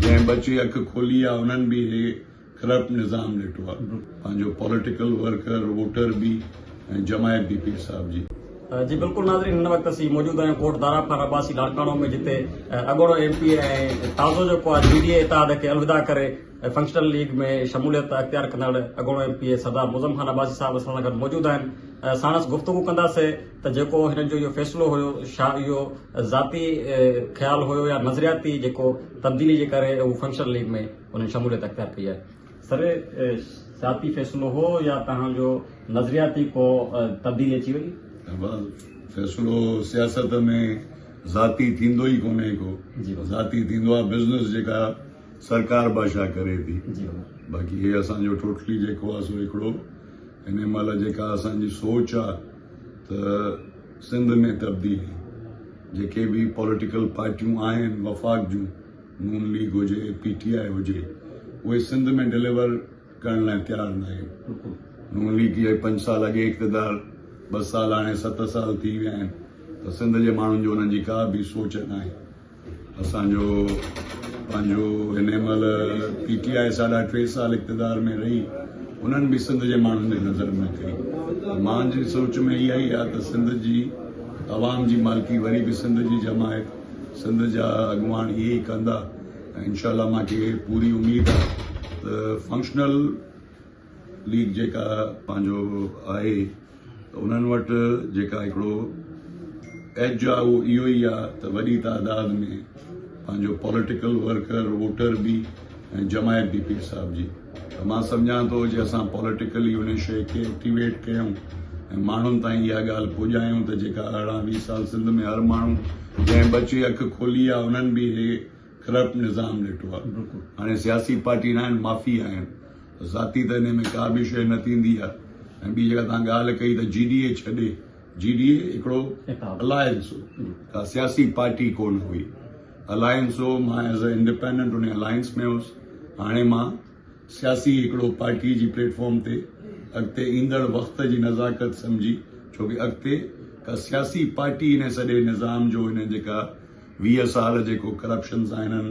جنهن ٻچي اک کولي آ انهن به هي ڪرپٽ نظام ڏٺو آ پنهنجو پوليٽيڪل ورڪر ووٽر به ۽ جماعت به پير صاحب جي. جي بلڪل ناظرين هن وقت اسين موجود آهيون ڪوٽ دارا خان عباسي لاڙڪاڻو ۾ جتي اڳوڻو ايم پي اي ۽ تازو جيڪو آ جي ڊي اي اتحاد کي الوداع ڪري فنڪشنل ليگ ۾ شموليت اختيار ڪندڙ اڳوڻو M P A Sardar Moazzam Khan Abbasi sahib اسان سان گڏ موجود آهن ساڻس گفتگو ڪنداسين. ته جيڪو هنن جو اهو فيصلو هيو شا اهو ذاتي خيال هيو يا نظرياتي جيڪو تبديلي جي ڪري اهو فنڪشنل ليگ ۾ انهن شموليت اختيار ڪئي آهي. سر ذاتي فيصلو هو يا توهان جو نظرياتي ڪو تبديلي اچي وئي؟ احمد فيصلو سياست ۾ ذاتي ٿيندو ئي ڪونهي ڪو ذاتي ٿيندو آهي بزنس جيڪا سرڪار بادشاهه ڪري ٿي باقي هي اسان جو ٽوٽلي جيڪو آهي سو هڪڙو هن مهل جيڪا اسان جي سوچ آهي ته سنڌ ۾ تبديلي جيڪي به پوليٽيڪل پارٽيون آهن وفاق جون نون ليگ هجي پي ٽي آء هجي اهي سنڌ ۾ ڊليور ڪرڻ لاء تيار ناهن نون ليگ جي پنج سال اڳي اقتدار ٻه سال هاڻي ست سال ٿي ويا آهن ته سنڌ جي ماڻهن جو انهن جي ڪا به سوچ ناهي اسان جو پنهنجو هن مهل پي ٽي آء ساڍا ٽي سال اقتدار ۾ رهي انهن به سنڌ جي ماڻهن جي نظر ۾ ڪئي مان جي سوچ ۾ اها ئي آ ته سنڌ جي عوام جي مالڪي وري به سنڌ جي جماعت سنڌ جا اڳواڻ اهي ئي ڪندا انشاء الله مان کي پوري اميد آ ته فنڪشنل ليگ جيڪا پنهنجو آهي ته انهن وٽ جيڪا هڪڙو ايج آهي اهو اهو ئي آهي ته وڏي تعداد ۾ پنهنجو پوليٽيڪل ورڪر ووٽر به ۽ جماعت به پير صاحب جي ته مان سمجهان ٿو جي اسان پوليٽيڪلي ان شيء کي ايڪٽيويٽ ڪيون ۽ ماڻهن تائين اها ڳالهه پڄايون ته جيڪا ارڙهن ويهه سال سنڌ ۾ هر ماڻهو جنهن ٻه چي اک کولي آهي انهن به اهي ڪرپٽ نظام ڏٺو آهي هاڻي سياسي پارٽي ناهن مافيا آهن ذاتي ته انهي ۾ ڪا به شيء نه ٿيندي آهي ۽ ٻي جيڪا توهان ڳالهه ڪئي ته جي ڊي اي ڇڏي جي ڊي اي هڪڙو الائنس هو ڪا سياسي پارٽي ڪونه هئي الائنس هو مان ايز اي انڊيپينڊنٽ انهي الائنس ۾ هوس هاڻي مان سياسي هڪڙو پارٽي جي پليٽ فارم تي اڳتي ايندڙ وقت جي نزاڪت سمجهي ڇوڪه اڳتي ڪا سياسي پارٽي انهي سڄي نظام جو انهي جيڪا ويهه سال جيڪو ڪرپشن سان هنن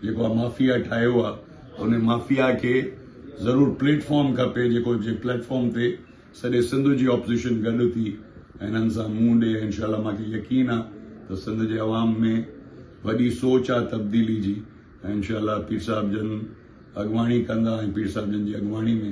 جيڪو آ مافيا ٺاهيو آ ته ان مافيا کي ضرور پليٽ فارم کپي جيڪو جي پليٽ فارم تي سڄي سنڌ جي اپوزيشن گڏ ٿي ۽ هنن سان منهن ڏي انشاء الله مان کي يقين آ ته سنڌ جي عوام ۾ وڏي سوچ آ تبديلي جي ۽ انشاء الله پير صاحب جن اڳواڻي ڪندا ۽ پير صاحب جن جي اڳواڻي ۾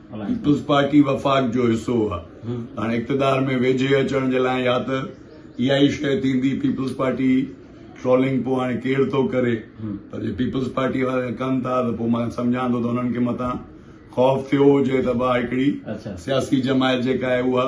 پيپلز پارٽي وفاق جو حصو هئا، هاڻ اقتدار ۾ ويجهي اچڻ جي لاء يا ته اها ئي شيء ٿيندي، پيپلز پارٽي ٽرولنگ پوء هاڻي ڪير ٿو ڪري پر جي پيپلز پارٽي وارا ڪن ٿا ته پوء مان سمجهان ٿو ته انهن کي متان خوف ٿيو هجي ته اها هڪڙي سياسي جماعت جيڪا آهي اها